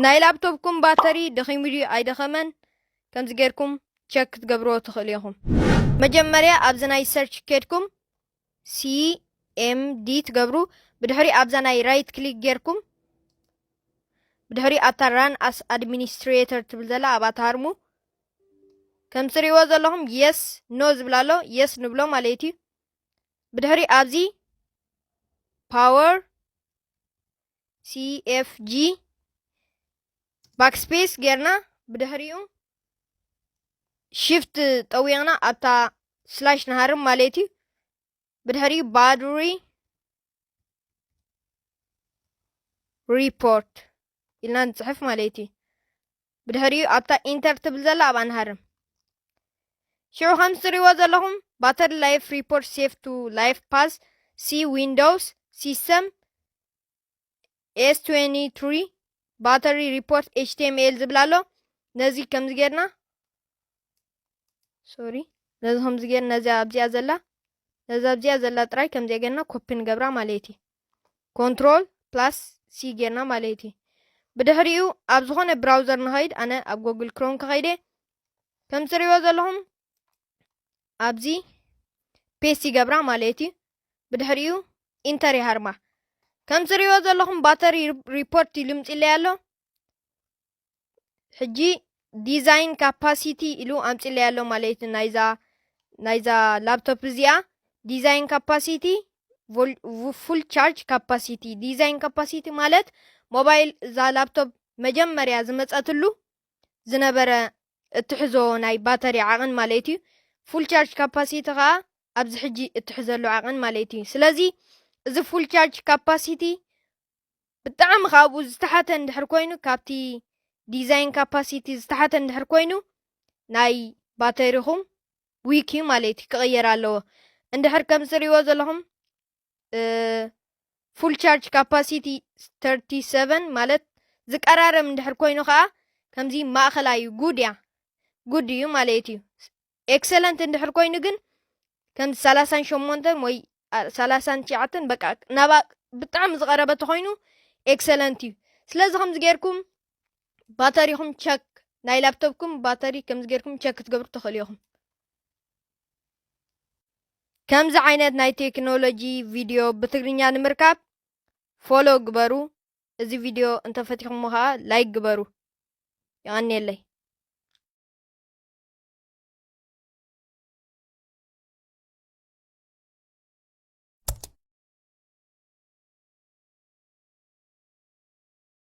ናይ ላብቶብኩም ባተሪ ደኺሙ ድዩ ኣይደኸመን ከምዚ ጌርኩም ቸክ ክትገብርዎ ትኽእሉ ኢኹም። መጀመርያ ኣብዚ ናይ ሰርች ኬድኩም CMD ትገብሩ ብድሕሪ ኣብዛ ናይ ራይት ክሊክ ጌርኩም ብድሕሪ ኣብታ ራን ኣስ ኣድሚኒስትሬተር ትብል ዘላ ኣብኣ ትሃርሙ ከም ትሪእዎ ዘለኹም የስ ኖ ዝብል ኣሎ የስ ንብሎ ማለት እዩ ብድሕሪ ኣብዚ ፓወር ሲኤፍጂ ባክስፔስ ጌርና ብድሕሪኡ ሽፍት ጠዊቕና ኣብታ ስላሽ ንሃርም ማለት እዩ ብድሕሪ ባድሪ ሪፖርት ኢልና ንፅሕፍ ማለት እዩ ብድሕሪኡ ኣብታ ኢንተር ትብል ዘላ ኣብኣ ንሃርም ሽዑ ከም ዝትሪእዎ ዘለኹም ባተሪ ላይፍ ሪፖርት ሴፍ ቱ ላይፍ ፓስ ሲ ዊንዶውስ ሲስተም S23 ባተሪ ሪፖርት HTML ዝብል ኣሎ ነዚ ከምዚ ጌርና ሶሪ ነዚ ከምዚ ጌርና ነዚ ኣብዚኣ ዘላ ነዚ ኣብዚኣ ዘላ ጥራይ ከምዚኣ ጌርና ኮፒ ንገብራ ማለት እዩ ኮንትሮል ፕላስ ሲ ጌርና ማለት እዩ ብድሕሪኡ ኣብ ዝኾነ ብራውዘር ንኸይድ ኣነ ኣብ ጎግል ክሮም ከኸይደ ከም ትሪእዎ ዘለኹም ኣብዚ ፔስት ይገብራ ማለት እዩ ብድሕሪኡ ኢንተር ይሃርማ ከም ዝሪኦ ዘለኹም ባተሪ ሪፖርት ይልምፅለይ ኣሎ ሕጂ ዲዛይን ካፓሲቲ ኢሉ ኣምፅለይ ኣሎ ማለት እዩ ናይዛ ናይዛ ላፕቶፕ እዚኣ ዲዛይን ካፓሲቲ ፉል ቻርጅ ካፓሲቲ ዲዛይን ካፓሲቲ ማለት ሞባይል እዛ ላፕቶፕ መጀመርያ ዝመፀትሉ ዝነበረ እትሕዞ ናይ ባተሪ ዓቕን ማለት እዩ። ፉል ቻርጅ ካፓሲቲ ከኣ ኣብዚ ሕጂ እትሕዘሉ ዓቕን ማለት እዩ። ስለዚ እዚ ፉል ቻርጅ ካፓሲቲ ብጣዕሚ ካብኡ ዝተሓተ እንድሕር ኮይኑ ካብቲ ዲዛይን ካፓሲቲ ዝተሓተ እንድሕር ኮይኑ ናይ ባተሪኹም ዊክ እዩ ማለት እዩ ክቕየር ኣለዎ። እንድሕር ከም ዝርእይዎ ዘለኹም ፉል ቻርጅ ካፓሲቲ ተርቲ ሰቨን ማለት ዝቀራረብ እንድሕር ኮይኑ ከዓ ከምዚ ማእኸላይ ጉድ እያ ጉድ እዩ ማለት እዩ ኤክሰለንት እንድሕር ኮይኑ ግን ከምዚ ሰላሳን ሸሞንተን ወይ ሰላሳን ትሽዓተን በቃ ናባ ብጣዕሚ ዝቀረበ ተኮይኑ ኤክሰለንት እዩ ስለዚ ከምዚ ጌርኩም ባተሪኹም ቸክ ናይ ላፕቶፕኩም ባተሪ ከምዚ ጌርኩም ቸክ ክትገብሩ ትኽእሉ ኢኹም ከምዚ ዓይነት ናይ ቴክኖሎጂ ቪድዮ ብትግርኛ ንምርካብ ፎሎ ግበሩ። እዚ ቪድዮ እንተፈቲኹሞ ከዓ ላይክ ግበሩ። ይቐንየለይ።